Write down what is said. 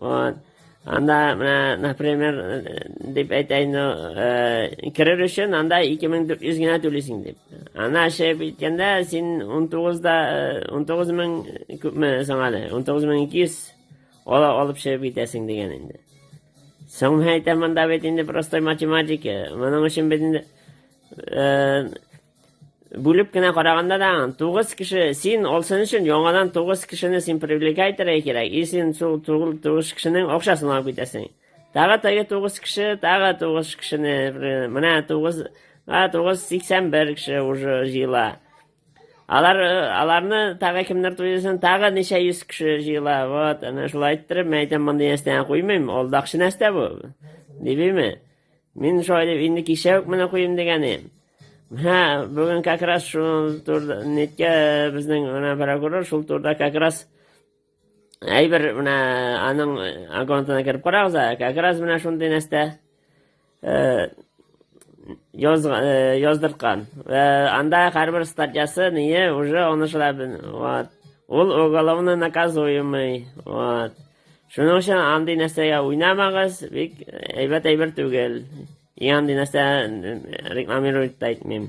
Вот. Анда менә, например, дип әйтәйне, ну, э, керер өчен анда 2400 генә түлисең дип. Ана шәй биткәндә син 19-да 19 э, мең күпме соң әле? 19200 ала алып шәй битәсең дигән инде. Соң әйтәм монда бит инде простой математика. Моның өчен бит инде э, Бүлеп кенә караганда да, тугыз кеше, син алсын өчен яңадан тугыз кешене син привлекай итәргә кирәк, и син шул тугыз кешенең акчасын алып китәсең. Тагы теге тугыз кеше, тагы тугыз кешене, менә тугыз, а тугыз сиксән бер кеше уже җыела. Алар, аларны тагы кемнәр туйсын, тагы ничә йөз кеше җыела. Вот, әнә шулай иттереп, мәйтәм монда ястән куймыйм, алдакчы нәрсә бу? Дибеме? Мин шулай инде кичә үк менә куйдым дигәнем. Һә, бүген как раз шул турда неткә безнең менә прокурор шул турда как раз әйбер менә аның аккаунтына кереп карагыз, как раз менә шундый нәрсә э, яз, э, яздырткан. Э, анда һәрбер статьясы ние уже аны шулай вот. Ул уголовно наказуемый. Вот. Шуның өчен андый нәрсәгә уйнамагыз, бик әйбәт әйбер түгел. И андый нәрсә рекламировать та итмим.